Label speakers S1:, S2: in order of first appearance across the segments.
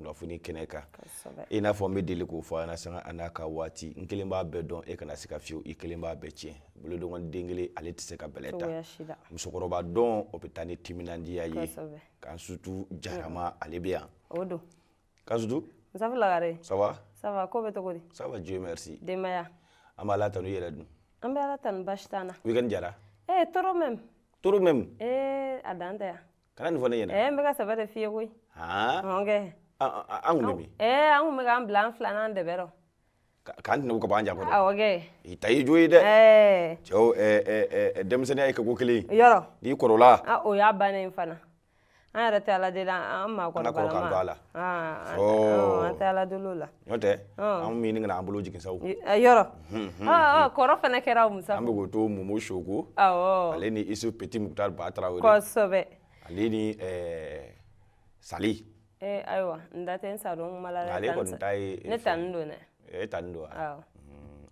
S1: kunnafoni kɛnɛ kan i n'a fɔ n bɛ deli k'o fɔ an sanga a n'a ka waati n kelen b'a bɛɛ dɔn e kana se ka fiyewu i kelen b'a bɛɛ tiɲɛ bolokɔnin den kelen ale tɛ se ka bɛlɛ ta musokɔrɔba dɔn o bɛ taa ni timinandiya ye Kansutu Jarama ale bɛ yan o
S2: don Kansutu lagare ça va ça
S1: va ko bɛ cogo
S2: di ça va dieu
S1: merci
S2: denbaya an b'Ala tanu
S1: i yɛrɛ dun an bɛ ala tanu
S2: basi t'an na weekend diyara eh
S1: trop même
S2: trop même eh a dan tɛ
S1: yan
S2: Kana nin fɔ ne ɲɛna ɛɛ
S1: n bɛ ka sɛbɛ de f'i ye koyi
S2: aa ɔn kɛ
S1: an kun bɛ min ɛɛ an kun bɛ k'an bila
S2: an filanan dɛbɛ rɔ k'an tɛnɛ u
S1: ka bɔ an ja kɔrɔ awɔ kɛ i ta
S2: y'i jo ye dɛ
S1: ɛɛ cɛw ɛɛ denmisɛnninya ye kɛko kelen ye yɔrɔ n'i kɔrɔla
S2: a
S1: o y'a bannen fana
S2: an yɛrɛ tɛ Ala deli an maakɔrɔbalama an tɛ Ala deli o la N'o tɛ
S1: anw min ɲini ka n'an bolo jigin sa
S2: yɔrɔ kɔrɔ fana kɛra Musafu an bɛ k'o to
S1: Mumu Suko ale ni Isu Petit Mukutari Ba Tarawele kosɛbɛ ale
S2: ni
S1: Sali
S2: ayiwa n da tɛ sa dɔn kuma la dɛ ale kɔni ta
S1: ye ne taa
S2: don dɛ e ta
S1: don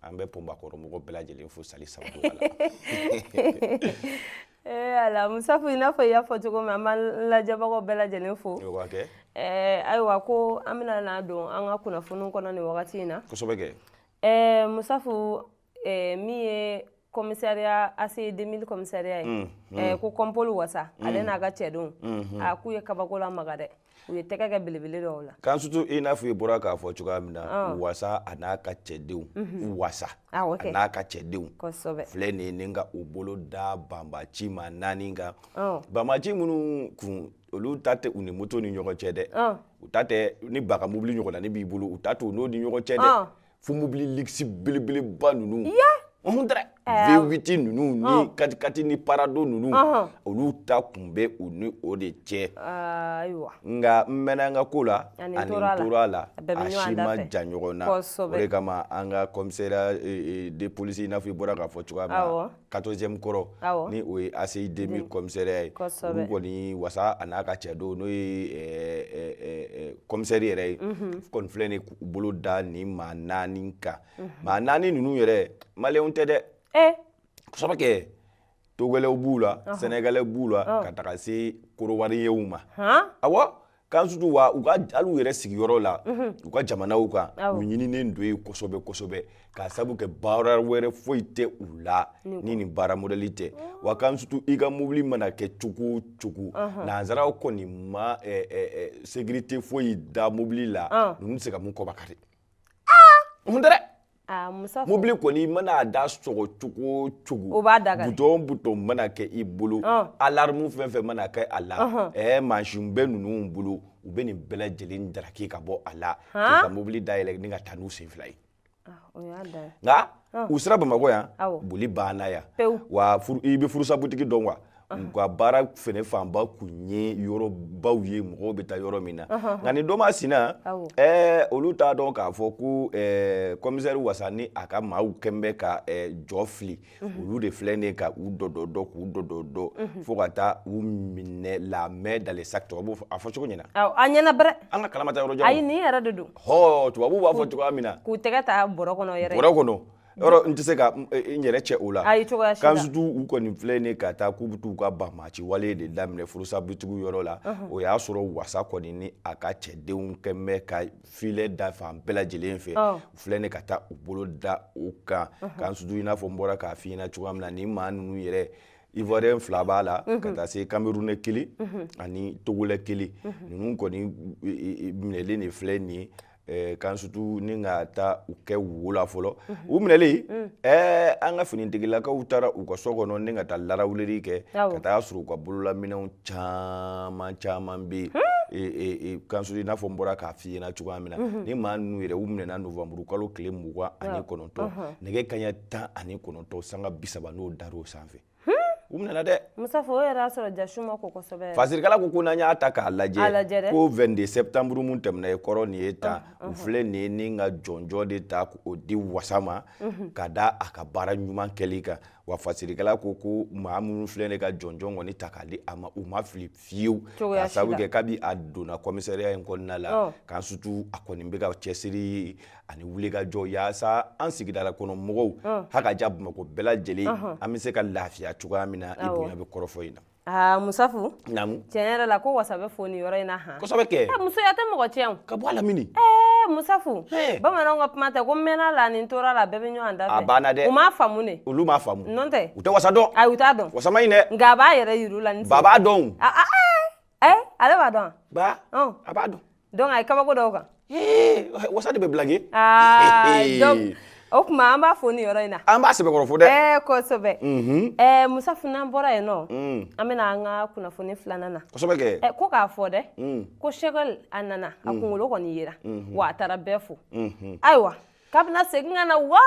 S1: an bɛ Pɔnba kɔrɔ mɔgɔ bɛɛ lajɛlen fo Sali sa
S2: Ee ala Musafu i n'a fɔ i y'a fɔ cogo min an b'an lajɛbagaw bɛɛ lajɛlen fo ayiwa ko an bɛna na don an ka kunnafoni kɔnɔ nin wagati in na Musafu min ye commissariat ACI 2000 commissariat ye ko Compol Wasa ale n'a ka cɛdenw a k'u ye kabako lamaga dɛ u ye tɛgɛ kɛ belebele dɔw la Kansutu i n'a fɔ i
S1: bɔra k'a fɔ cogoya min na wasa a n'a ka cɛdenw wasa a n'a ka cɛdenw filɛ nin ye ni ka u bolo da banbaci maa naani kan banbaci minnu kun olu ta tɛ u ni moto ni ɲɔgɔn cɛ dɛ u ta tɛ ni bagan mobili ɲɔgɔn na ni b'i bolo u ta t'u n'o ni ɲɔgɔn cɛ dɛ fo mobili luxe belebeleba ninnu ɔhun tɛrɛ v8 ninnu ni katikati ni parado ninnu olu ta kun bɛ u ni o de cɛ ayiwa nka n mɛnna an ka ko la ani n tora a la a bɛɛ bɛ ɲɔgɔn da fɛ a si man jan ɲɔgɔn na kosɛbɛ o de kama an ka commissariat de police i n'a fɔ i bɔra k'a fɔ cogoya min na awɔ. 14ème kɔrɔ awɔ ni o ye ACI 2000 commissariat ye kosɛbɛ olu kɔni wasa a n'a ka cɛdenw n'o ye ɛ ɛ ɛ commissaire yɛrɛ ye unhun kɔni filɛ nin ye k'u bolo da nin maa naani kan maa naani ninnu yɛrɛ maliyɛnw tɛ dɛ ee kosɛbɛ kɛ togolɛw b'u la sɛnɛgalɛ b'u la ka taga se korowariyɛnw ma han awɔ kansutu wa u ka hali u yɛrɛ sigiyɔrɔ la u ka jamanaw kan u ɲininen don yen kosɛbɛ kosɛbɛ k'a sabu kɛ baara wɛrɛ foyi tɛ u la ni nin baara modɛli tɛ wa kansutu i ka mobili mana kɛ cogo o cogo nanzaraw kɔni ma sekirite foyi da mobili la ninnu tɛ se ka min kɔba kari mun tɛ dɛ Aa Musafu mobili kɔni i mana a da sɔgɔ cogo o cogo o b'a da ka di bouton o bouton mana kɛ i bolo ɔn alarme fɛn o fɛn mana kɛ a la ɔnhɔn ɛɛ mansin bɛ ninnu bolo u bɛ nin bɛɛ lajɛlen daraki ka bɔ a la k'i haan ka mobili dayɛlɛ ni ka taa n'u sen fila ye ah o y'a dan ye nka ɔn u sera Bamakɔ yan awɔ boli banna yan pewu wa furu i bɛ furusabutigi dɔn wa u ka baara fɛnɛ fanba kun ye yɔrɔbaw ye mɔgɔw bɛ taa yɔrɔ min na nka nin don masina olu t'a dɔn k'a fɔ ko commissaire wasa ni a ka maaw kɛn bɛ ka jɔ fili olu de filɛ nin ka u dɔ dɔ dɔ k'u dɔ dɔ dɔ fo ka taa u minɛ la main dans le sac tubabu a fɔ cogo ɲɛna a ɲɛna
S2: bɛrɛ an ka kalamata yɔrɔ jan ayi nin
S1: yɛrɛ de don
S2: hɔ tubabu b'a fɔ cogoya
S1: min na k'u tɛgɛ ta bɔrɔ kɔnɔ
S2: yɛrɛ bɔrɔ kɔnɔ
S1: yɔrɔ n tɛ se ka n yɛrɛ cɛ o la kansutu u kɔni filɛ nin ka taa k'u bɛ taa u ka banmaci wale de daminɛ furusabutigiw yɔrɔ la o y'a sɔrɔ wasa kɔni ni a ka cɛdenw kɛn bɛ ka filet da fan bɛɛ lajɛlen fɛ u filɛ nin ka taa u bolo da u kan kansutu i n'a fɔ n bɔra k'a fɔ i ɲɛna cogoya min na nin maa ninnu yɛrɛ Ivoirien fila b'a la ka taa se Camerounais kelen ani Togolais kelen ninnu kɔni minɛlen de filɛ nin ye Kansutu ni ka taa u kɛ wo la fɔlɔ u minɛlen an ka finitigilakaw taara u ka so kɔnɔ ni ka taa larawuleri kɛ ka taa sɔrɔ u ka bololaminɛw caman caman bɛ yen Kansutu i n'a fɔ n bɔra k'a fɔ i ɲɛna cogoya min na nin maa ninnu yɛrɛ u minɛna novembre kalo tile mugan ani kɔnɔntɔn nɛgɛ kaɲɛ tan ani kɔnɔntɔn sanga bi saba n'o dar'o sanfɛ u minɛna dɛ Musafu o yɛrɛ y'a
S2: sɔrɔ jasu ma ko kosɛbɛ fasirikala ko ko n'an
S1: y'a ta k'a lajɛ A lajɛ dɛ. ko 22 septembre mun tɛmɛna i kɔrɔ nin ye tan u filɛ nin ye ni ka jɔnjɔn de ta k'o di wasa ma ka da a ka baara ɲuman kɛli kan wa fasirikala ko ko maa minnu filɛ nin ye ka jɔnjɔn kɔni ta k'a di a ma u ma fili fiyewu Cogoya si la. k'a sababu kɛ kabi a donna kɔmisariya in kɔnɔna la Ɔ. Kansutu a kɔni bɛ ka cɛsiri ani wulikajɔ yaasa an sigida la kɔnɔ mɔgɔw ha ka ja bamakɔ bɛɛ lajɛlen an bɛ se ka lafiya cogoya min na i bonya bɛ kɔrɔfɔ in na
S2: Musafu naamu tiɲɛ yɛrɛ
S1: la ko wasa
S2: bɛ fo nin yɔrɔ in na hɔn musoya tɛ
S1: mɔgɔ
S2: tiɲɛ ka bɔ a la
S1: mini
S2: Musafu bamananw ka kuma tɛ ko mɛnna la ni tora la bɛɛ bɛ ɲɔgɔn da fɛ a banna dɛ u m'a faamu de
S1: olu
S2: m'a faamu nɔn tɛ
S1: u tɛ wasa
S2: dɔn ayi u t'a
S1: dɔn wasa man ɲi
S2: dɛ nka a b'a
S1: yɛrɛ yir'u
S2: la ni sen ba b'a dɔn Ɛ ale b'a dɔn ba a
S1: b'a dɔn donc a ye kabako dɔw
S2: kan wasa
S1: de bɛ
S2: blaguer donc o kuma an b'a fo nin yɔrɔ in na an b'a sɛbɛkɔrɔ fo dɛ
S1: kosɛbɛ
S2: ɛ Musafu n'an bɔra yen nɔ an bɛna an ka kunnafoni filanan na ko k'a
S1: fɔ dɛ
S2: ko Shekɛl a nana a kunkolo kɔni yira wa a taara bɛɛ fo ayiwa K'a bɛna segin ka na wa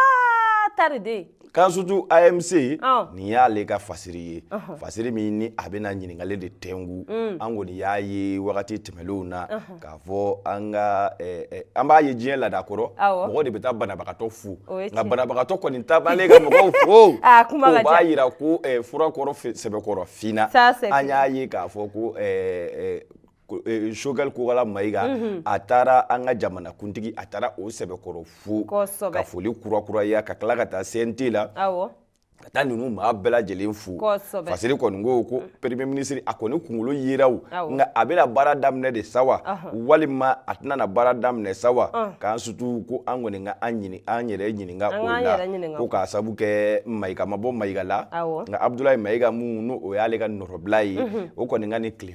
S2: tari de ye k'an
S1: sutu AMC nin y'ale ka fasiri ye fasiri min ni a bɛna ɲininkali de tɛnku an kɔni y'a ye wagati tɛmɛnlenw na k'a fɔ an ka an b'a ye diɲɛ laada kɔrɔ mɔgɔ de bɛ taa banabagatɔ fo nka banabagatɔ kɔni taa ka mɔgɔw fo o b'a jira ko furakɔrɔ sɛbɛkɔrɔ fana an y'a ye k'a fɔ ko Eh, sokɛli kokala mayiga mhm. a taara an ka jamanakuntigi a taara o sɛbɛkɔrɔ fo ka foli kurakuraya ka tila ka taa CNT la ka taa ninnu maa bɛɛ lajɛlen fo fasiri kɔni ko ko mm. premier ministre a kɔni kunkolo yera nka a bɛna baara daminɛ de sa wa walima a tɛna na baara daminɛ sa wa ah. k'an sutu ko an kɔni ka an ɲini an yɛrɛ ɲininka o la ko k'a sabu kɛ mayiga ma bɔ mayiga la nka abudulayi mayiga min n'o y'ale ka nɔrɔbila ye mhm. o kɔni ka ni tile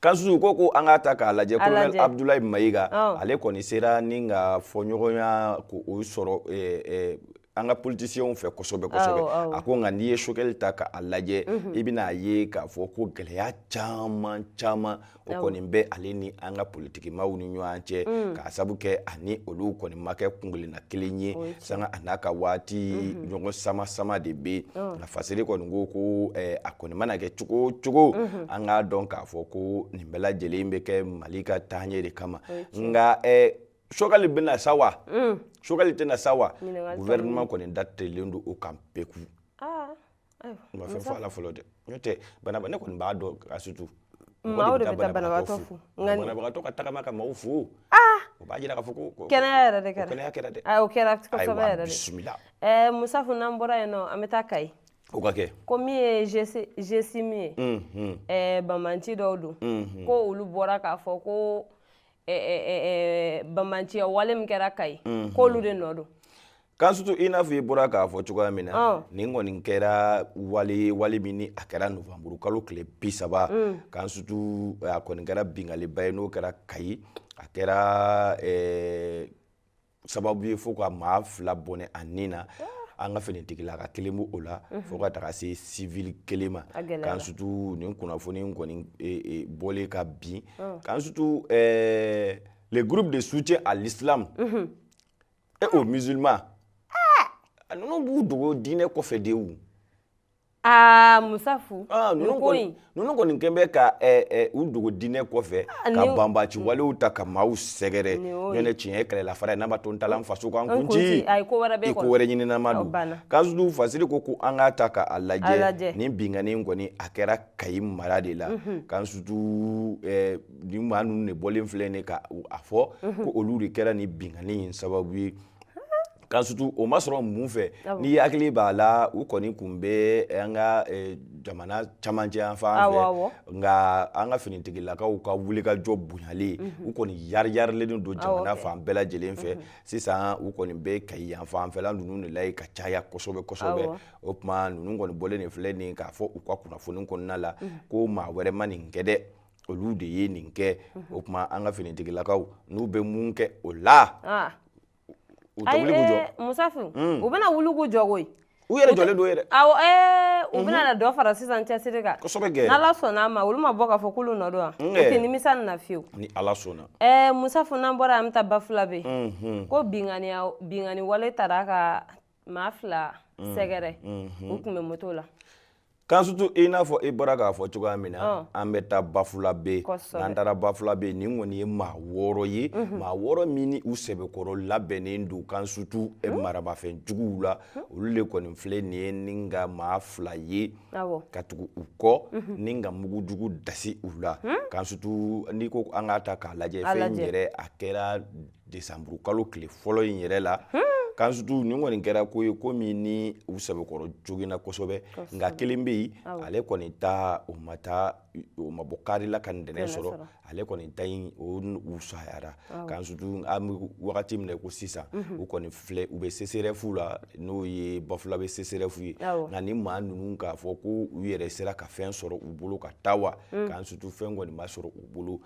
S2: K'an sutu ko
S1: ko an k'a ta k'a lajɛ ko abudulayi mayiga ale kɔni sera ni ka fɔɲɔgɔnya k'o sɔrɔ an ka politisiyɛnw fɛ kosɛbɛ kosɛbɛ a ko nka n'i ye sokɛli ta k'a lajɛ i bɛna a ye k'a fɔ ko gɛlɛya caman caman o kɔni bɛ ale ni an ka politikimaaw ni ɲɔgɔn cɛ k'a sabu kɛ ani olu kɔni ma kɛ kunkelenna kelen ye sanga a n'a ka waati ɲɔgɔn sama sama de bɛ yen fasiri kɔni ko ko a kɔni mana kɛ cogo cogo an k'a dɔn k'a fɔ ko nin bɛɛ lajɛlen bɛ kɛ mali ka taaɲɛ de kama nka sokɛli bɛna sa wa sokɛli tɛna sa wa gouvernement kɔni dadelen don o kan peku u ma fɛn fɔ a la fɔlɔ dɛ n'o tɛ bana ne kɔni b'a dɔn k'an
S2: sutu maaw de bɛ taa banabagatɔ fo banabagatɔ ka tagama
S1: ka maaw fo o b'a jira k'a fɔ ko kɛnɛya yɛrɛ
S2: kɛra dɛ
S1: kɛra ɛɛ musafu
S2: n'an bɔra yen nɔ an bɛ taa kayi o ka kɛ
S1: ko min
S2: ye GSIM ye mm-hmm. eh, banbaanci dɔw don mm-hmm. ko olu bɔra k'a fɔ ko eh, eh, banbaanciya wale min kɛra kayi mm-hmm. k'olu de nɔ don k'an sutu
S1: i n'a fɔ i bɔra k'a fɔ cogoya min na oh. nin kɔni kɛra wale wale min ni a kɛra novanburu kalo tile bi saba mm. k'an sutu a kɔni kɛra binkanniba ye n'o kɛra kayi a kɛra sababu ye fo ka maa fila bɔnɛ a ni na ah. an ka finitigilaka kelen b'o la mhm. fo ka taga se civil kelen ma k'an sutu nin kunnafoni in kɔni e, e, bɔlen ka bin oh. k'an sutu eh, le groupe de soutien à l'islam mhm. et aux musulmans ah. ninnu b'u dogo diinɛ kɔfɛ de Aa
S2: musafu
S1: ninnu kɔni kɛlen bɛ ka u dogo diinɛ kɔfɛ ka banbaanci walew ta ka maaw sɛgɛrɛ ne tiɲɛ kɛlɛla fara ye n'a ma to ta faso kan kunci ko wɛrɛ ɲininama don k'an sutu fasiri ko ko an k'a ta k'a lajɛ nin binkanni in kɔni a kɛra kayi mara de la k'an sutu maa ninnu de bɔlen filɛ ka a fɔ ko olu de kɛra nin binkanni in sababu ye Kan sutu o ma sɔrɔ mun fɛ n'i hakili b'a la u kɔni tun bɛ an ka jamana camancɛ yanfan fɛ nka an ka finitigilakaw ka wulikajɔ bonyalen u kɔni yariyarilen don jamana fan bɛɛ lajɛlen fɛ sisan u kɔni bɛ kayi yanfanfɛ ninnu de la ka caya kosɛbɛ kosɛbɛ o tuma ninnu kɔni bɔlen nin filɛ nin k'a fɔ u ka kunnafoni kɔnɔna la ko maa wɛrɛ ma nin kɛ dɛ olu de ye nin kɛ o tuma an ka finitigilakaw n'u bɛ mun kɛ o la u tɛ
S2: wuli k'u jɔ musafu u
S1: bɛna
S2: wuli k'u jɔ koyi
S1: u yɛrɛ jɔlen don yɛrɛ awɔ ɛɛ u bɛna
S2: na dɔ fara sisan cɛsiri kan kosɛbɛ kɛ n'ala sɔnna a
S1: ma olu
S2: ma bɔ k'a fɔ k'olu nɔ don wa u tɛ nimisa nin na fiyewu ni ala
S1: sɔnna ɛɛ musafu
S2: n'an bɔra an bɛ taa bafulabe ko binkanni binkanniwale taara ka maa fila mm. sɛgɛrɛ mm-hmm. u tun bɛ moto la kan
S1: sutu i n'a fɔ i bɔra k'a fɔ cogoya min na an bɛ taa bafulabe n'an taara bafulabe nin kɔni ye maa wɔɔrɔ ye mhm. maa wɔɔrɔ min ni u sɛbɛkɔrɔ labɛnnen don kan sutu e mhm. marabafɛn juguw la mhm. olu le kɔni filɛ nin ye ni ka maa fila ye ka tugu u kɔ ni ka mugu jugu dasi u la kan sutu n'i ko an k'a ta k'a lajɛ fɛn yɛrɛ a kɛra desanburu kalo tile fɔlɔ in yɛrɛ la kansutu nin kɔni kɛra ko ye ko min ni u sɛbɛkɔrɔ joginna kosɛbɛ nka kelen bɛ yen ale kɔni ta o ma taa o ma bɔ kari la ka ntɛnɛn sɔrɔ ale kɔni ta in o sayara kansutu an bɛ wagati min na ko sisan u kɔni filɛ u bɛ seserɛfu la n'o ye bafulabe seserɛfu ye nka ni maa ninnu k'a fɔ ko u yɛrɛ sera ka fɛn sɔrɔ u bolo ka taa wa kansutu fɛn kɔni ma sɔrɔ u bolo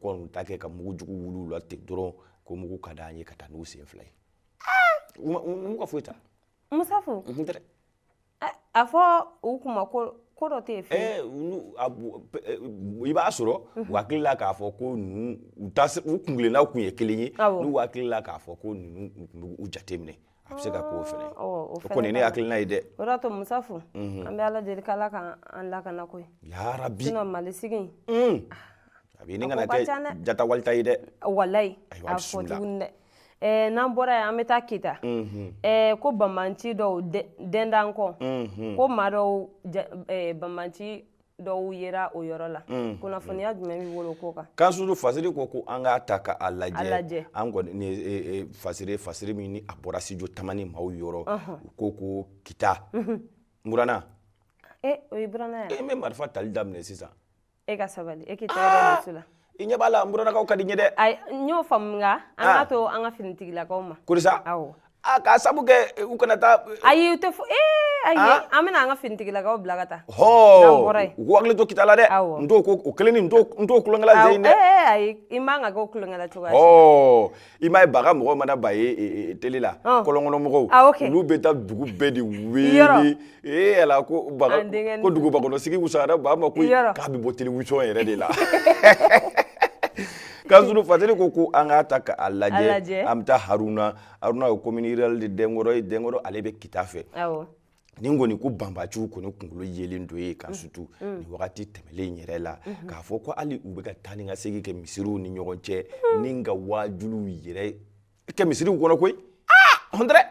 S1: kɔni ta kɛ ka mugu jugu wuli u la ten dɔrɔn ko mugu ka d'an ye ka taa n'u sen fila ye u m'u ka foyi ta musafu
S2: a fɔ u kuma ko ko dɔ tɛ yen
S1: fɛ i b'a sɔrɔ u hakili la k'a fɔ ko ninnu u kuntilenna tun ye kelen ye n'u hakili la k'a fɔ ko ninnu b'u jateminɛ a bɛ se ka k'o fana o kɔni ne hakilina ye dɛ o de y'a to
S2: musafu an bɛ ala deli k'ala k'an lakana koyi yarabi sinon mali
S1: sigi in a bɛ ɲini ka na kɛ jatawalita ye dɛ walayi
S2: a fɔ tuguni dɛ Eh, n'an bɔra yen an bɛ taa kita mhm. eh, ko banbanci dɔw dɛndan kɔ mhm. ko maa dɔw eh, banbanci dɔw yera o yɔrɔ la mm, kunnafoniya mm. jumɛn b'i bolo o ko kan kansutu fasiri ko
S1: ko an k'a ta ka a lajɛ an kɔni ni e, e, fasiri fasiri min ni a bɔra studio tamani maaw yɔrɔ u ko ko kita mhm. n burana
S2: e o ye burana ye n bɛ marifa tali daminɛ
S1: sisan e ka sabali
S2: e k'i tɛgɛ da muso la i ɲɛ b'a la n
S1: buranakaw ka di n ye dɛ ayi n y'o faamu
S2: nka an Ah. k'a to an ka finitigilakaw ma kurisa awɔ a
S1: k'a sabu kɛ u kana taa ayi u tɛ fo ee
S2: ayi Ah. an bɛna an ka finitigilakaw bila ka taa N'an hɔɔ bɔra yen. u
S1: ko hakili to kita la dɛ Awɔ. n t'o ko o kelen ni n t'o n t'o tulonkɛla Awɔ, zeyi dɛ ee ayi i man kan
S2: k'o tulonkɛla cogoya si. hɔɔ i
S1: m'a ye baga mɔgɔw mana ba ye e, e, e, tele la oh. kɔlɔnkɔnɔ mɔgɔw ah, okay. olu bɛ taa dugu bɛɛ de weele ee ala ko baga ko dugubakɔnɔsigi wusayara ba ma koyi k'a bɛ bɔ telewisɔn yɛrɛ de la kan surtout fasiri ko ko an k'a ta k'a lajɛ an bɛ taa haruna haruna ye commune rurale de dɛnkɔrɔ ye dɛnkɔrɔ ale bɛ kita fɛ ni kɔni ko banbaciw kɔni kunkolo yelen don yen kan mm. surtout mm. ni wagati tɛmɛlen yɛrɛ la mm-hmm. k'a fɔ ko hali u bɛ ka taa ni ka segin kɛ misiriw ni ɲɔgɔn cɛ mm. ni ka wajuliw yɛrɛ kɛ misiriw kɔnɔ koyi ah!
S2: hɔntɛrɛ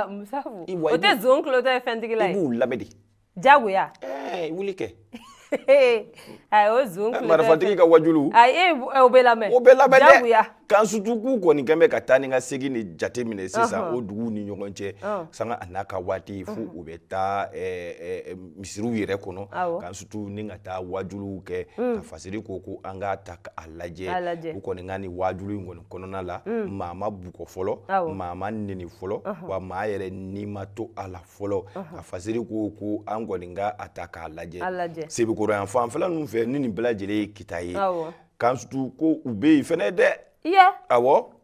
S2: musafu o tɛ zon tulotɔ ye fɛntigi la ye i b'u lamɛn de jagoya ɛɛ wuli kɛ a o zon eh, marifatigi ka
S1: wajulu a e o bɛ
S2: lamɛn o bɛ lamɛn dɛ jagoya kan surtout
S1: k'u kɔni kɛn bɛ ka taa ni ka segin ni jate minɛ sisan o duguw ni ɲɔgɔn cɛ sanga a n'a ka waati fo u bɛ taa eh, misiriw yɛrɛ kɔnɔ kan surtout ni ka taa wajuluw kɛ mm. ka fasiri ko ko an k'a ta a lajɛ u kɔni ka nin wajulu in kɔni kɔnɔna la mm. maa ma bugɔ fɔlɔ maa ma neni fɔlɔ wa maa yɛrɛ ni ma to a la fɔlɔ a fasiri ko ko an kɔni ka a ta k'a lajɛ sebekɔrɔ yan fanfɛla ninnu fɛ ni nin bɛɛ lajɛlen ye kita ye kan surtout ko u bɛ yen fɛnɛ dɛ awɔ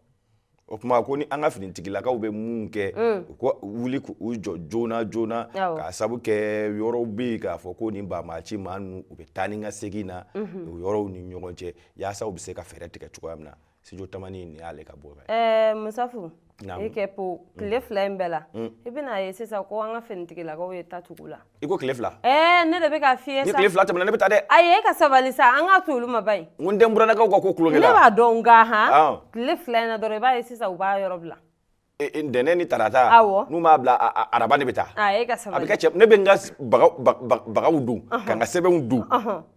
S1: o tuma ko ni an ka finitigilakaw bɛ mun kɛ mm. u ka wuli k'u jɔ joona joona k'a sabu kɛ yɔrɔw bɛ yen k'a fɔ ko nin banbaaci maa ninnu u bɛ taa ni ka segin na mhm. o yɔrɔw ni ɲɔgɔn cɛ yaasa u bɛ se ka fɛɛrɛ tigɛ cogoya min na studio tamani in y'ale ka bɔ fɛ ɛɛ eh,
S2: musafu i kɛ po tile mm. fila in bɛɛ la mm. i bɛna ye sisan ko an ka finitigilakaw ye ta tugu u la i ko tile fila ɛɛ
S1: eh, ne de bɛ k'a f'i
S2: ye sa ni tile fila tɛmɛna ne bɛ taa dɛ
S1: ayi e ka sabali
S2: sa an ka to olu ma ba in n ko n den buranakaw ka ko
S1: kulonkɛ la ne b'a dɔn nka han
S2: tile fila in na dɔrɔn i b'a ye sisan u b'a yɔrɔ bila ntɛnɛn
S1: ni tarata n'u m'a bila araba ne bɛ taa a bɛ cɛ ne
S2: bɛ n
S1: ka bagaw don ka n ka sɛbɛnw don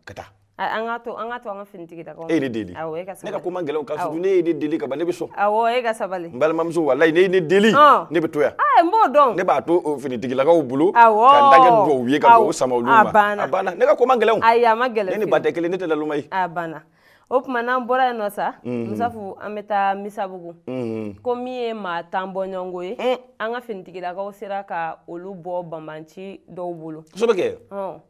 S1: ka taa an ka to an ka to
S2: an ka finitigilakaw e ye ne deli
S1: ne ka ko man gɛlɛn ko n'e ye ne deli ka ban ne bɛ sɔn e ka sabali
S2: n balimamuso walayi
S1: n'e ye ne deli ne bɛ to yan n b'o dɔn ne
S2: b'a to
S1: finitigilakaw bolo ka n ta kɛ dugawu ye ka dugawu sama banna ne ka ko man gɛlɛn a man gɛlɛn ne ni ba
S2: tɛ kelen ne tɛ lalma
S1: ye banna
S2: o tuma n'an bɔra yen nɔ sa mhm. musafu an bɛ taa misabugu mhm. ko min ye maa tan bɔɲɔgɔnko ye mm. an ka finitigilakaw sera ka olu bɔ banbanci dɔw bolo kosɛbɛ kɛ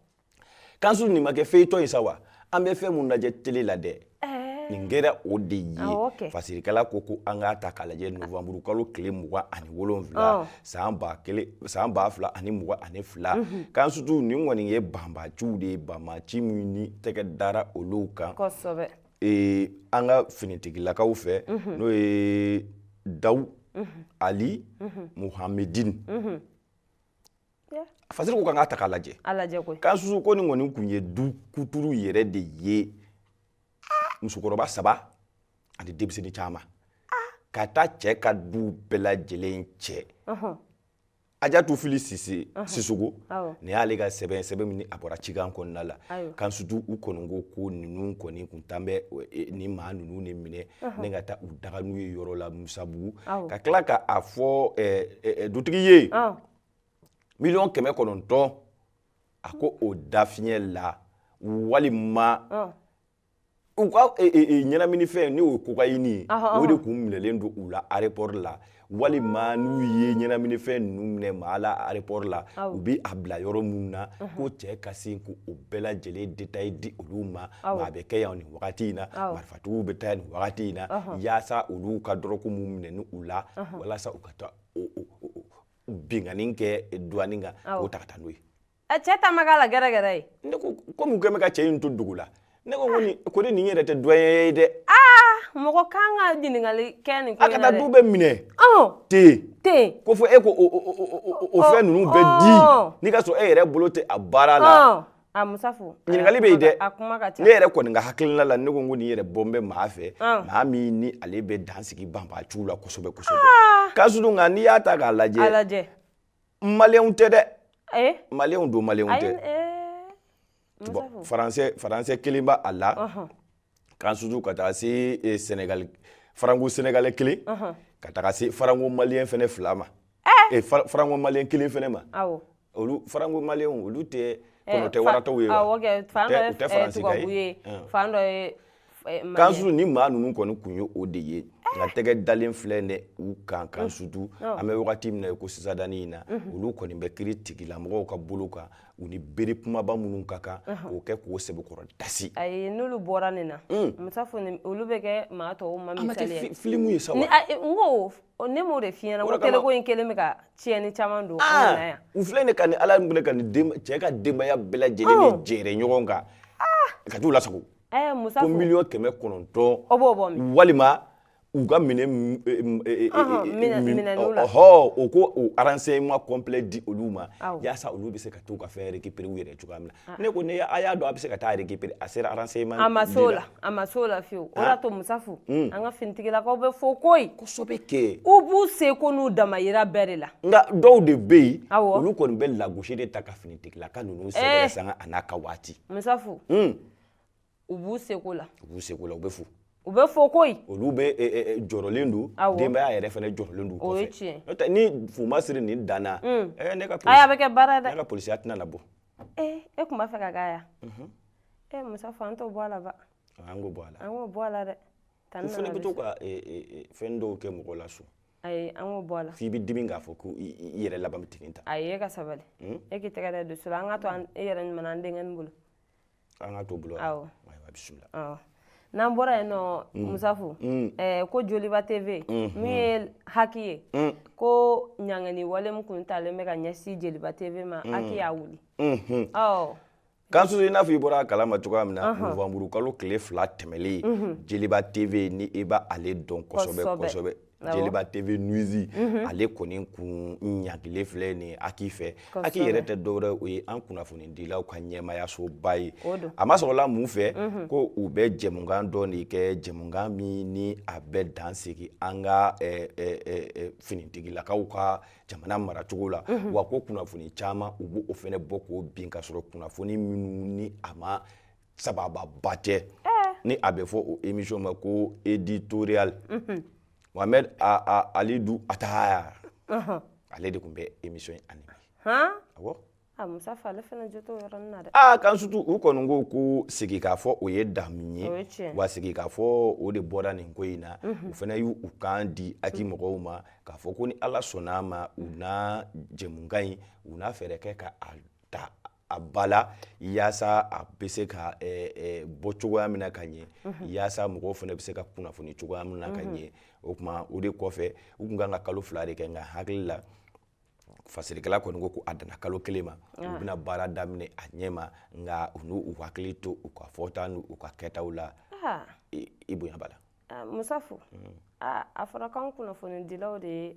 S1: kan surtout nin ma kɛ feuilleton ye sa wa an bɛ fɛn mun lajɛ tele la dɛ eh. nin kɛra o de ye fasirikɛla ko ko an k'a ta k'a lajɛ novanburu kalo tile mugan ani wolonwula san ba kelen san ba fila ani mugan ani fila mhm. kan surtout nin kɔni ye banbaciw de ye banbaci minnu ni tɛgɛ dara olu kan kosɛbɛ ee an ka finitigilakaw fɛ mhm. n'o ye daw mhm. ali muhamedini fasiri ko k'an k'a ta k'a lajɛ kan surtout ko nin kɔni tun ye du kuturu yɛrɛ de ye musokɔrɔba saba ani denmisɛnnin caman ka taa cɛ ka du bɛɛ lajɛlen cɛ ajatu fili sisoko ni y'ale ka sɛbɛn sɛbɛn min a bɔra cikan kɔnɔna la kan sutu u kɔni ko ko ninnu kɔni kun tan bɛ e, ni maa ninnu ne minɛni ka taa u daga n'u ye yɔrɔ la musabugu ka tila ka a fɔ e, e, dutigi ye miliyɔn kɛmɛ kɔnɔntɔn a ko o dafiɲɛ la walima u ka ɲɛnaminifɛn n'o ye kokayini ye o de kun minɛlen don u la arepɔri la walima n'u ye ɲɛnaminifɛn ninnu minɛ maa la arepɔri la u bɛ a bila yɔrɔ minnu na ko cɛ ka sin ko o bɛɛ lajɛlen detayi di olu ma a bɛ kɛ yan nin wagati in na marifatigiw bɛ taa nin wagati in na yaasa olu ka dɔrɔku minnu minɛnen u la walasa u ka taa o binkanni kɛ duwani kan k'o ta ka taa n'o ye ɛ cɛ ta ma k'a
S2: la gɛrɛgɛrɛ ye ne ko komi u kɛlen
S1: bɛ ka cɛ in to dugu la ne ko ko nin ko ni nin yɛrɛ tɛ duwanye ye dɛ aa
S2: mɔgɔ kan ka ɲininkali kɛ nin ko in na dɛ a ka taa du bɛɛ
S1: minɛ ten ten ko fo e k'o fɛn ninnu bɛɛ di n'i k'a sɔrɔ e yɛrɛ bolo tɛ a baara la a
S2: musafo ɲininkali bɛ yen dɛ
S1: a kuma ka ca ne yɛrɛ kɔni ka hakilina la ne ko n ko nin yɛrɛ bɔlen bɛ maa fɛ maa min ni ale bɛ dan sigi banbaaciw la kosɛbɛ kosɛbɛ ah! kan sutu nka n'i y'a ta k'a lajɛ a lajɛ maliyɛnw tɛ dɛ eh? maliyɛnw don maliyɛnw tɛ eh, faransɛ faransɛ kelen b'a a la kan sutu ka taa se eh, Senegal faranko senegalais kelen ka taga se faranko malien fɛnɛ fila ma eh, fa- faranko malien kelen fɛnɛ ma awɔ olu faranko malien olu tɛ Eh, kɔnɔ tɛ fa- waratɔw ye wa? awɔ kɛ fan Tɛ- dɔ ye u tɛ eh, faransi ka tubabu ye ye Hum. fan dɔ ye eh, Malien. kan sutu ni maa ninnu kɔni kun ye o de ye nka tɛgɛ dalen filɛ ne u kan kan sutu an bɛ wagati min na i ko sisadani in na olu kɔni bɛ kiritigilamɔgɔw ka bolo kan u ni bere kumaba minnu ka kan k'o kɛ k'o sɛbɛkɔrɔ dasi ayi n'olu
S2: bɔra nin na mm. musa fo olu bɛ kɛ maa tɔw ma misali ye filimu ye sa wa
S1: n ko ne
S2: m'o de f'i ɲɛ na ko teleko in kɛlen bɛ ka tiɲɛni caman don an na yan u filɛ nin ka ni
S1: ala minɛ ka nin cɛ ka denbaya bɛɛ lajɛlen de jɛrɛ ɲɔgɔn kan ah. ka t'u lasago ko miliyɔn
S2: kɛmɛ
S1: kɔnɔntɔn walima u ka minɛ hɔ u k'o aransɛɲɛman kɔnplɛ di olu ma yaasa olu bɛ se ka t'u ka fɛn rekipere yɛrɛ cogoya min na ne ko ne a y'a dɔn a bɛ se ka taa rekipere a sera aransɛɲɛman a ma s'o la a
S2: ma s'o la fiyewu o y'a to musafu an ka finitigilakaw bɛ fo koyi kosɛbɛ kɛ
S1: u b'u seko
S2: n'u damayira bɛɛ de la nka dɔw de bɛ
S1: yen olu kɔni bɛ lagosi de ta ka finitigilaka ninnu sanga n'a ka waati musa
S2: u b'u seko la u b'u seko la u bɛ
S1: fo u bɛ fo
S2: koyi olu bɛ eh, eh,
S1: eh, jɔrɔlen don denbaya yɛrɛ fɛnɛ jɔrɔlen don o ye tiɲɛ n'o tɛ ni
S2: fuma
S1: siri nin danna mm. ɛɛ ne ka polisi ayi a bɛ kɛ baara dɛ ne ka
S2: polisiya tɛna labɔ
S1: ee e tun
S2: b'a fɛ ka k'a ya mhm. ee musafu an t'o bɔ a la ba an k'o bɔ a la
S1: an k'o bɔ a la
S2: dɛ u fɛnɛ bɛ
S1: to ka fɛn dɔw kɛ mɔgɔ la so ayi an k'o bɔ a la
S2: f'i bɛ dimi k'a fɔ ko
S1: i yɛrɛ laban bɛ tigɛ ta ayi e ka sabali
S2: hmm? e k'i tɛgɛ da dusu la an ka to e yɛrɛ ɲuman na an denkɛnin bolo an ka
S1: to bolo ayiwa
S2: bisimila
S1: awɔ n'an
S2: bɔra yen nɔ mm. musafu mm. eh, ko joliba tv mm, min ye haki ye ko ɲangɛni wale min kun talen bɛ ka ɲɛsin jeliba tv ma haki y'a wuli mm-hmm.
S1: awɔ kansutu i n'a fɔ i bɔra a kalama cogoya min na novanburu kalo tile fila tɛmɛlen jeliba tv ni i b'ale dɔn kosɛbɛ kosɛbɛ jeliba tv news ale kɔni kun ɲangilen filɛ nin haki fɛ haki yɛrɛ tɛ dɔwɛrɛ o ye an kunnafonidilaw ka ɲɛmaayasoba ye a ma sɔrɔla mun fɛ ko u bɛ jɛmukan dɔ de kɛ jɛmukan min ni a bɛ dan sigi an ka finitigilakaw ka jamana maracogo la wa ko kunnafoni caman u b'o fɛnɛ bɔ k'o bin ka sɔrɔ kunnafoni minnu ni a ma saba sabati ni a bɛ fɔ o émission ma ko éditorial mohamed halidou attaher ale de kun bɛ émission in
S2: animé kansutu u kɔni
S1: ko ko sigi k'a fɔ o ye damu ye wa sigi k'a fɔ o de bɔra nin ko in na u fɛnɛ y'u u kan di haki mɔgɔw ma k'a fɔ ko ni ala sɔnna a ma u na jɛmukan in u na fɛɛrɛ kɛ ka ta a ba la yaasa a bɛ se ka bɔ cogoya min na ka ɲɛ yaasa mɔgɔw fɛnɛ bɛ se ka kunnafoni cogoya min na ka ɲɛ o kuma o de kɔfɛ u kun ka kan ka kalo fila de kɛ nka hakili la fasirikɛla kɔni ko ko a danna kalo kelen ma u bɛna baara daminɛ a ɲɛ ma nka u n'u hakili to u ka fɔta n'u ka kɛtaw la i bonya b'a la
S2: musafu a fɔra kunnafonidilaw de ye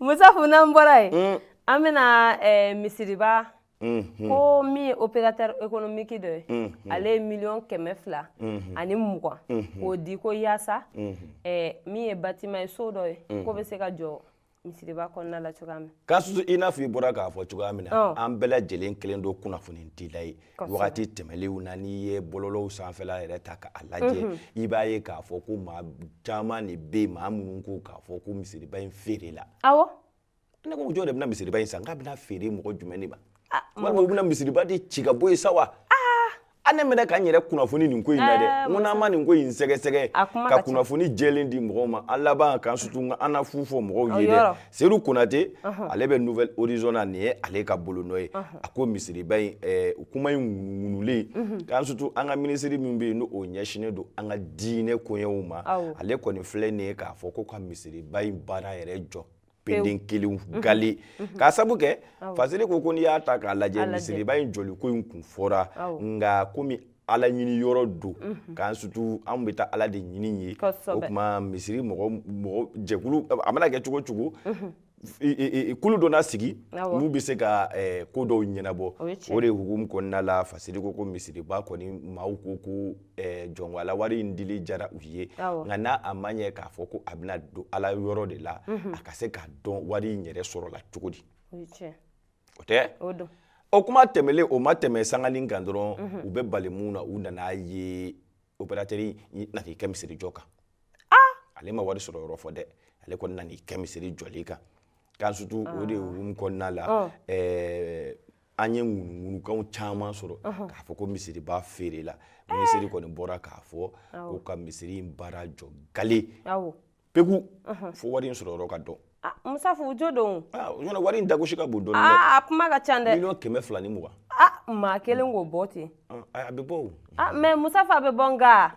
S1: musafu
S2: n'an bɔra yen mm. an bɛna eh, misiriba mm-hmm. ko min ye opérateur économique dɔ ye mm-hmm. ale ye miliyɔn kɛmɛ fila mm-hmm. ani mugan k'o di ko yaasa eh, min ye bâtiment ye so dɔ ye k'o bɛ se ka jɔ misiriba kɔnɔna la cogoya min kansutu i n'a fɔ i bɔra
S1: k'a fɔ cogoya min na an bɛɛ lajɛlen kelen don kunnafonidila ye wagati tɛmɛnlenw na n'i ye bɔlɔlɔw sanfɛla yɛrɛ ta k'a lajɛ mhm. i b'a ye k'a fɔ ko maa caman de bɛ yen maa minnu ko k'a fɔ ko misiriba in feerela awɔ
S2: ne ko jɔn
S1: de bɛna misiriba in san k'a bɛna feere mɔgɔ jumɛn de ma ah, walima u bɛna misiriba de ci ka bɔ yen sa wa ah! a ne mɛnɛ ka n yɛrɛ kunnafoni nin ko in na dɛ ah, n ko n'an ma nin ko in sɛgɛsɛgɛ ka kunnafoni jɛlen di mɔgɔw ma an laban kansutu an na fu fɔ mɔgɔw ye dɛ Seyidu Konate ale bɛ Nouvel Horizon na nin ye ale ka bolonɔ ye a ko misiriba in kuma in ŋunuŋunulen k'an surtout an ka minisiri min bɛ yen n'o ɲɛsinnen don an ka diinɛ koɲɛw ma ale kɔni filɛ nin ye k'a fɔ ko ka misiriba in baara yɛrɛ jɔ peden kelen gale k'a sabu kɛ Fasiri ko ko n'i y'a ta k'a lajɛ misiriba in jɔliko in kun fɔra nka komi ala ɲini yɔrɔ don k'an sutu an bɛ taa ala de ɲini ye o tuma misiri mɔgɔ jɛkulu a mana kɛ cogo cogo kulu dɔ na sigi n'u bɛ se ka ko dɔw ɲɛnabɔ o de hukumu kɔnɔna la fasiri ko ko misiriba kɔni maaw ko ko jɔnwala wari in dili jara u ye nka n'a a ma ɲɛ k'a fɔ ko a bɛna don ala yɔrɔ de la a ka se k'a dɔn wari in yɛrɛ sɔrɔla cogo di o tɛ o kuma tɛmɛlen o ma tɛmɛ sangali kan dɔrɔn mhm. u bɛ bali mun na u nana ye opérateur nana kɛ misiri jɔ kan ah! ale ma wari sɔrɔ yɔrɔ fɔ dɛ ale kɔni nana kɛ misiri jɔli kan k'an sutu o de hukumu ah. kɔnɔna la oh. an ye ŋunuŋunukanw caman sɔrɔ uh-huh. k'a fɔ ko misiriba feerela eh. minisiri kɔni bɔra k'a fɔ ko ka misiri in baara jɔ gale peku fo wari in sɔrɔ yɔrɔ ka dɔn ah, musafu jo
S2: don ɲɔnɔ wari in
S1: dagosi ka bon dɔɔni ah, a kuma ka ca
S2: dɛ miliyɔn kɛmɛ fila ni mugan
S1: ah, maa kelen k'o
S2: bɔ ten a bɛ bɔ o
S1: mɛ musafu a
S2: bɛ bɔ nka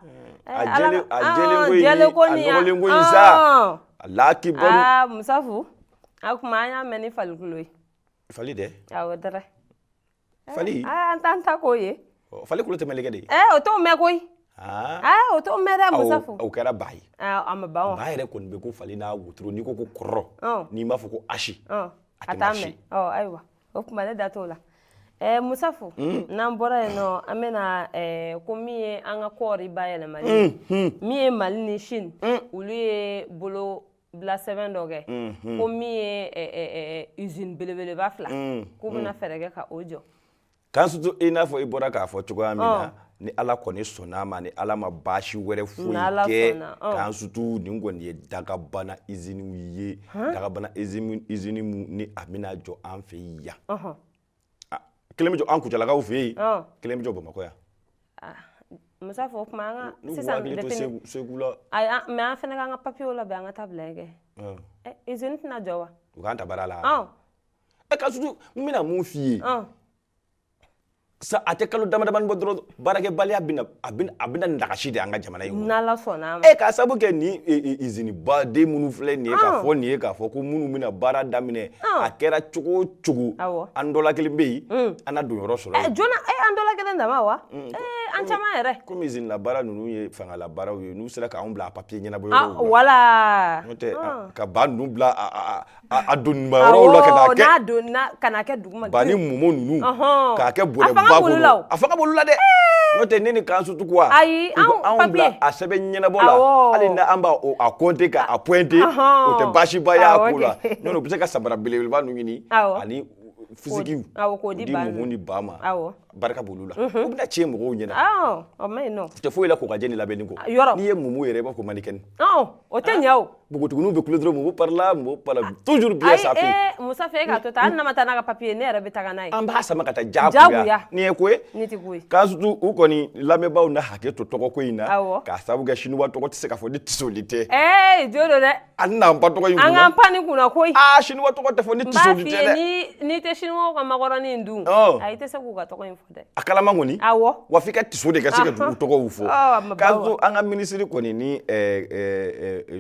S1: eh, a jɛlen ko in a nɔgɔlen ko in sa ala k'i bɔ musafu
S2: a kuma an y'a mɛn ni fali kulo ye fali dɛ
S1: awɔ dɛrɛ fali an t'an
S2: ta k'o ye fali kulo tɛ
S1: mɛlɛkɛ de ye o t'o mɛn
S2: koyi o t'o mɛn dɛ musafu o kɛra ba ye
S1: a ma ban ba yɛrɛ
S2: kɔni bɛ ko fali
S1: n'a wotoro n'i ko ko kɔrɔ n'i m'a fɔ ko asi a t'a
S2: mɛn ayiwa o kuma ne da t'o la Eh, musafu mm. n'an bɔra yen nɔ an bɛna eh, ko min ye an ka kɔɔri bayɛlɛmali mm, mm. min ye mali ni chine mm. olu ye bolo bila sɛbɛn dɔ kɛ ko min ye izini belebeleba fila k'u bɛna fɛɛrɛ kɛ ka o jɔ k'an sutu
S1: i n'a fɔ i bɔra k'a fɔ cogoya min na ni ala kɔni sɔnn'a ma ni ala ma baasi wɛrɛ foyi kɛ k'an sutu nin kɔni ye dakabana iziniw ye dakabana izini ni a bɛna jɔ an fɛ yan ah, kelen bɛ jɔ an kucalakaw fɛ yen kelen bɛ jɔ bamakɔ yan
S2: ah, musafu o kuma an ka sisan dɛtɛni segula
S1: ayi mɛ an fana k'an ka
S2: papiyew labɛn an ka taa bila kɛ izini tɛna jɔ wa u k'an ta baara
S1: la ɛ k'an sutu n bɛna mun f'i ye sa a tɛ kalo damadamani bɔ dɔrɔn Baarakɛbaliya bɛna a bɛna a bɛna nagasi de an ka jamana in kɔnɔ, n'Ala sɔnn'a ma, e
S2: k'a sabu kɛ
S1: nin usine baden minnu filɛ nin ye, ɔn, k'a fɔ nin ye k'a fɔ ko minnu bɛna baara daminɛ, ɔn, a kɛra cogo o cogo, awɔ, an dɔ la kelen bɛ yen, un, an na don yɔrɔ sɔrɔ yen, ɛ joona, e an dɔ la
S2: kelen dama wa? un, ee an caman yɛrɛ, komi usine la baara
S1: ninnu ye fangala baaraw ye, n'u sera k'anw bila a papier ɲɛnabɔyɔrɔw la, ɔn, voilà, n'o tɛ
S2: ka
S1: ba ninnu bila a a a donba yɔrɔw la ka kɛ n'a donna
S2: ka na kɛ duguma ba ni mumu
S1: ninnu k'a kɛ bɔrɛ ba kɔnɔ a fanga b'olu la dɛ n'o tɛ ne ni kansutu quoi ayi anw bila
S2: a
S1: sɛbɛn ɲɛnabɔ la hali ni an b'a a kɔnte ka a pɔnte o tɛ baasiba y'a ko la n'o tɛ u bɛ se ka samara belebeleba ninnu ɲini ani fisigiw k'o di
S2: mumu ni ba
S1: ma barika b'olu la u bɛna tiɲɛ mɔgɔw ɲɛna o ma
S2: ɲi nɔ tɛ foyi la k'u ka jɛni
S1: labɛnni kɔ yɔrɔ n'i ye mumu yɛrɛ i b'a fɔ manikɛni o tɛ ɲɛ
S2: o npogotiginiw bɛ kulo dɔrɔn mumu
S1: parila mumu parila toujours bien sa ayi ee musa fo e k'a to tan hali
S2: n'a ma taa n'a ka papiye ne yɛrɛ bɛ taa n'a ye an b'a sama ka
S1: taa jagoya nin ye ko ye nin tɛ ko ye kansutu
S2: u
S1: kɔni lamɛnbaaw na hakɛ to tɔgɔko in na awɔ k'a sababu kɛ siniwa tɔgɔ tɛ se ka fɔ ni tisoli tɛ e jo don dɛ
S2: A n'an pan
S1: tɔgɔ in an ka pan nin kunna
S2: koyi aa siniwa tɔgɔ tɛ
S1: fɔ ni n'i tɛ
S2: siniwa ka makɔrɔni dun i tɛ se k'u ka tɔgɔ in fɔ dɛ a kalama kɔni
S1: wa f'i ka tiso de ka se ka dugu tɔgɔw fɔ kansutu an ka minisiri kɔni ni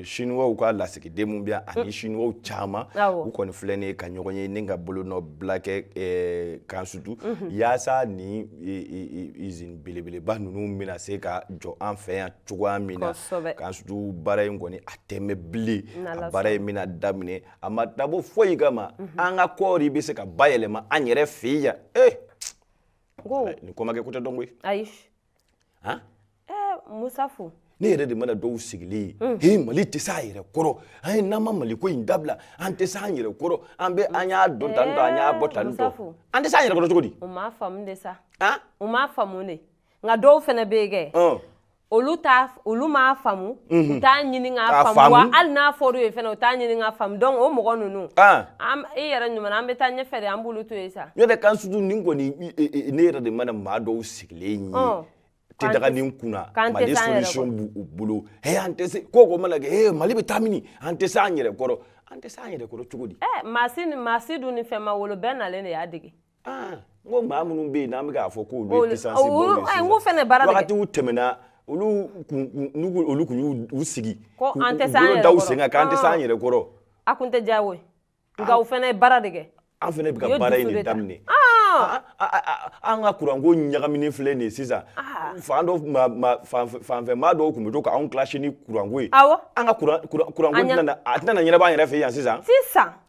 S1: siniwaw ka lasigiden min bɛ yan ani siniwa caman u kɔni filɛ nin ye ka ɲɔgɔn ye ni ka bolonɔ bila kɛ kansutu yaasa ni izini belebeleba ninnu bɛna se ka jɔ an fɛ yan cogoya min na kansutu baara in kɔni a tɛ mɛɛn bilen a baara in bɛna daminɛ a ma dabɔ foyi kama mhm. an ka kɔɔri bɛ se ka bayɛlɛma an yɛrɛ fɛ yan ee eh! ni ko ma kɛ ko tɛ dɔn koyi ayi
S2: han eh, musa fo ne yɛrɛ de mana
S1: dɔw sigilen ye mm. he mali tɛ se a yɛrɛ kɔrɔ an ye n'an ma mali ko in dabila an tɛ se an yɛrɛ kɔrɔ an bɛ an y'a don tan tɔ an y'a bɔ tan tɔ an tɛ se an yɛrɛ kɔrɔ cogo di u m'a faamu de sa
S2: u m'a faamu de nka dɔw fana bɛ yen kɛ olu t'a olu m'a faamu u t'a ɲini k'a faamu wa hali n'a fɔra u ye fana u t'a ɲini k'a faamu donc o mɔgɔ ninnu e yɛrɛ ɲuman an bɛ taa ɲɛfɛ de an b'olu to yen sa ne yɛrɛ kansutu nin kɔni
S1: ne yɛrɛ de mana maa dɔw sigilen ye te daganin kunna mali solution b'u bolo he an tɛ se ko ko mana kɛ he mali bɛ taa mini an tɛ se an yɛrɛ kɔrɔ an tɛ se an yɛrɛ kɔrɔ cogo di ɛ maa si maa si
S2: dun ni fɛn ma wolo bɛɛ nalen de y'a dege ah, n ko
S1: maa minnu bɛ yen n'an bɛ k'a fɔ k'olu ye pisansibaw ye sisan fɛnɛ baara bɛ
S2: wagatiw
S1: tɛmɛna olu kun n'u ko olu kun y'u sigi ko an tɛ s'an yɛrɛ kɔrɔ
S2: da u sen kan k'an tɛ s'an yɛrɛ
S1: kɔrɔ a kun tɛ diya u
S2: ye nka u fɛnɛ ye baara de kɛ an fɛnɛ bɛ ka
S1: baara in de daminɛ an ka kuranko ɲagaminen filɛ nin ye sisan fan dɔ fanfɛ maa dɔw tun bɛ to k'anw kilasi ni kuranko ye an ka kuranko tɛna a tɛna ɲɛnabɔ an yɛrɛ fɛ yan sisan sisan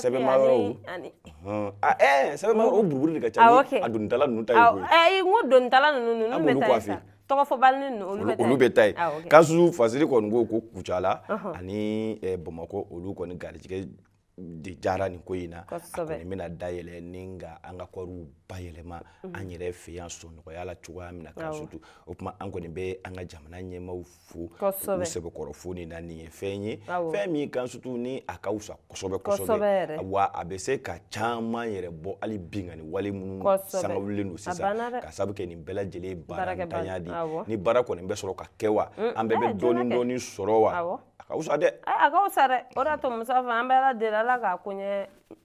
S1: Sɛbɛnmayɔrɔ sɛbɛnmayɔrɔ o buruburu de ka ca a donitala ninnu ta ye koyi n ko donitala
S2: ninnu tɔgɔ fɔbali ninnu olu bɛ
S1: taa yen kansutu fasiri kɔni ko ko kucala ani bamakɔ olu kɔni garijɛgɛ de diyara nin ko in na a kɔni bɛna dayɛlɛ ni ka an ka kɔɔriw bayɛlɛma an yɛrɛ fɛ yan sɔnɔgɔya la cogoya min na kansutu o tuma an kɔni bɛ an ka jamana ɲɛmaw fɛ fo sɛbɛkɔrɔ fo nin na nin ye fɛn ye fɛn min kan sutu ni a ka wusa kosɛbɛ kosɛbɛ wa a bɛ se ka caman yɛrɛ bɔ hali binkanni wale minnu sanga wulilen don sisan ka sabu kɛ nin bɛɛ lajɛlen baarantanya di ni baara kɔni bɛ sɔrɔ ka kɛ wa an bɛɛ bɛ dɔɔni dɔɔni sɔrɔ wa a ka wusa dɛ a ka wusa dɛ
S2: o y'a to musa an bɛ ala deli ala k'a ko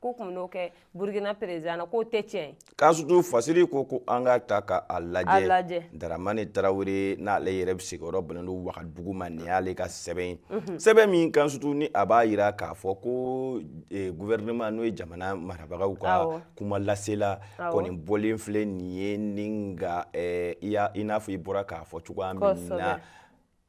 S1: k'u kun bɛn'o
S2: kɛ burkina président na k'o tɛ tiɲɛ ye kan sutu
S1: fasiri ko ko an ka ta ka a lajɛ daramani tarawele n'ale yɛrɛ bɛ sigiyɔrɔ bɛnnen don wagadugu ma nin y'ale ka sɛbɛn ye mhm. sɛbɛn min kan sutu ni a b'a jira k'a fɔ ko eh, gouvernement n'o ye jamana marabagaw ka kuma lasela kɔni bɔlen filɛ nin ye ni ka eh, i n'a fɔ i bɔra k'a fɔ cogoya min na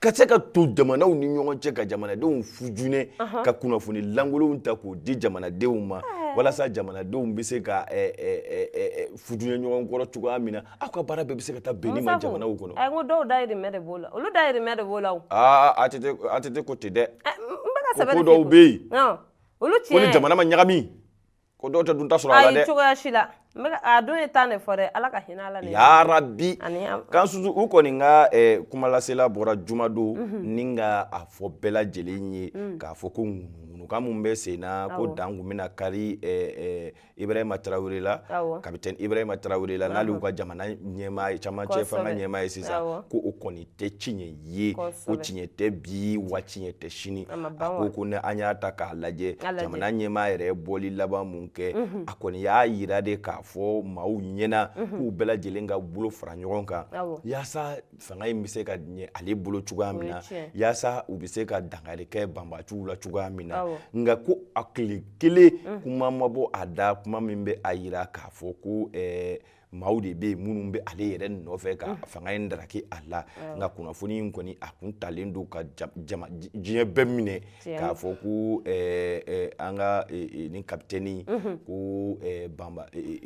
S2: ka se ka
S1: to jamanaw ni ɲɔgɔn cɛ ka jamanadenw fujunɛ ka kunnafoni lankolonw ta k'o di jamanadenw ma walasa jamanadenw bɛ se ka fujunɛ ɲɔgɔn kɔrɔ cogoya min na aw ka baara bɛɛ bɛ se ka taa bɛn nin ma jamanaw kɔnɔ a ko dɔw
S2: dayirimɛ de b'o la olu dayirimɛ de b'o la o
S1: aa ATT ko ten dɛ ko ko
S2: dɔw bɛ yen
S1: olu tiɲɛ ko ni jamana
S2: ma ɲagami
S1: ko dɔw tɛ dunta sɔrɔ a la dɛ cogoya si
S2: la a dun ye tan de fɔ dɛ ala ka hinɛ a la ya
S1: rabi kan sutu u kɔni ka eh, kumalasela bɔra jumadon mhm. ni ka a fɔ bɛɛ lajɛlen ye mm. k'a fɔ ko ŋunukan min bɛ sen na ko dan kun bɛna kari eh, eh, ibrahima tarawele la kapitɛni ibrahima tarawele la n'ale y'u ka jamana ɲɛmaa camancɛ fanga ɲɛmaa ye sisan ko o kɔni tɛ tiɲɛ ye ko tiɲɛ tɛ bi wa tiɲɛ tɛ sini a ko ko ni an y'a ta k'a lajɛ jamana ɲɛmaa yɛrɛ ye bɔli laban min kɛ a kɔni y'a yira de k'a fɔ maaw ɲɛna k'u bɛɛ lajɛlen ka bolo fara ɲɔgɔn kan yaasa fanga in bɛ se ka ɲɛ ale bolo cogoya min na yaasa u bɛ se ka dankari kɛ banbaanciw la cogoya min na nka ko a tile kelen kuma ma bɔ a da kuma min bɛ a yira k'a fɔ ko maaw de bɛ yen minnu bɛ ale yɛrɛ nɔfɛ ka fanga in daraki a la nka kunnafoni in kɔni a kun talen don ka diɲɛ bɛɛ minɛ k'a fɔ ko an ka nin kapitɛni ko ban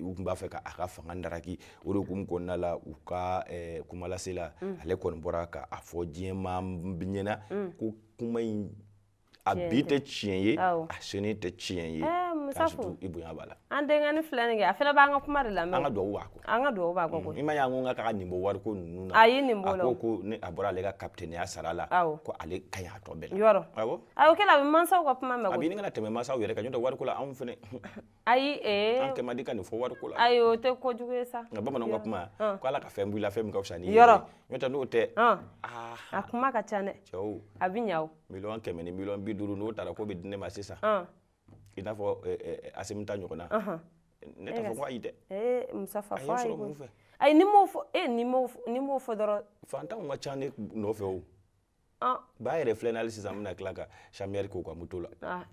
S1: u tun b'a fɛ k'a ka fanga daraki o de hukumu kɔnɔna la u ka kumalasela ale kɔni bɔra k'a fɔ diɲɛ maa bɛɛ ɲɛna ko kuma in a bi tɛ tiɲɛ ye a sini tɛ tiɲɛ ye musafo i bonya b'a la an denkɛni filɛ nin kɛ
S2: a fana b'an ka kuma de lamɛn an ka dugawu b'a kɔ an ka
S1: dugawu b'a kɔ mm, i ma
S2: y'an ko k'a k'a nin bɔ
S1: wariko ninnu na a y'i nin bɔ a la a ko
S2: ko ne a bɔra ale
S1: ka kapitɛniya sara la ko ale ka ɲi a tɔ bɛɛ la yɔrɔ awɔ a y'o kɛ
S2: la a bɛ mansaw ka kuma mɛn a bɛ ɲini ka tɛmɛ mansaw
S1: yɛrɛ kan n'o tɛ wariko la anw fana ayi
S2: ee an kɛ man di
S1: ka nin fɔ wariko la ayi o tɛ ko jugu
S2: ye sa nka bamananw ka
S1: kuma ko ala ka fɛn b'i la fɛn min ka fisa n'i ye yɔrɔ n'o tɛ n'o tɛ a kuma
S2: ka ca dɛ cɛw a bɛ ɲa o miliyɔn kɛmɛ ni miliyɔn bi
S1: duuru n'o taara ko bɛ di ne ma sisan i n'a fɔ asimita ɲɔgɔn na ne t'a fɔ ko ayi dɛ ee musafa fɔ
S2: ayi ko
S1: ayi n'i m'o fɔ
S2: e n'i m'o fɔ dɔrɔn fantanw ka ca ne
S1: nɔfɛ o Ah. Ba yɛrɛ filɛ hali sisan bɛna tila ka samiri k'u ka moto la ah,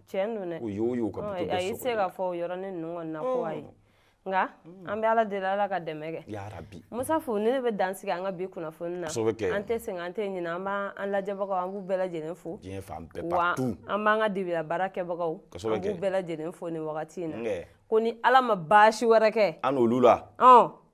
S2: u y'o y'u ka
S1: a y'i se ka fɔ o
S2: yɔrɔnin ninnu na ko ayi oh. nka mm. an bɛ ala deli ala ka dɛmɛ kɛ yarabi musafo
S1: ne bɛ
S2: dansigi an ka bi kunnafoni na an tɛ sɛgɛn an tɛ ɲinɛ an b'an an lajɛbagaw an b'u bɛɛ lajɛlen fo
S1: wa an b'an
S2: ka
S1: dibila baara
S2: kɛbagaw an b'u bɛɛ lajɛlen fo nin wagati in na ko ni ala ma baasi wɛrɛ kɛ an n'olu la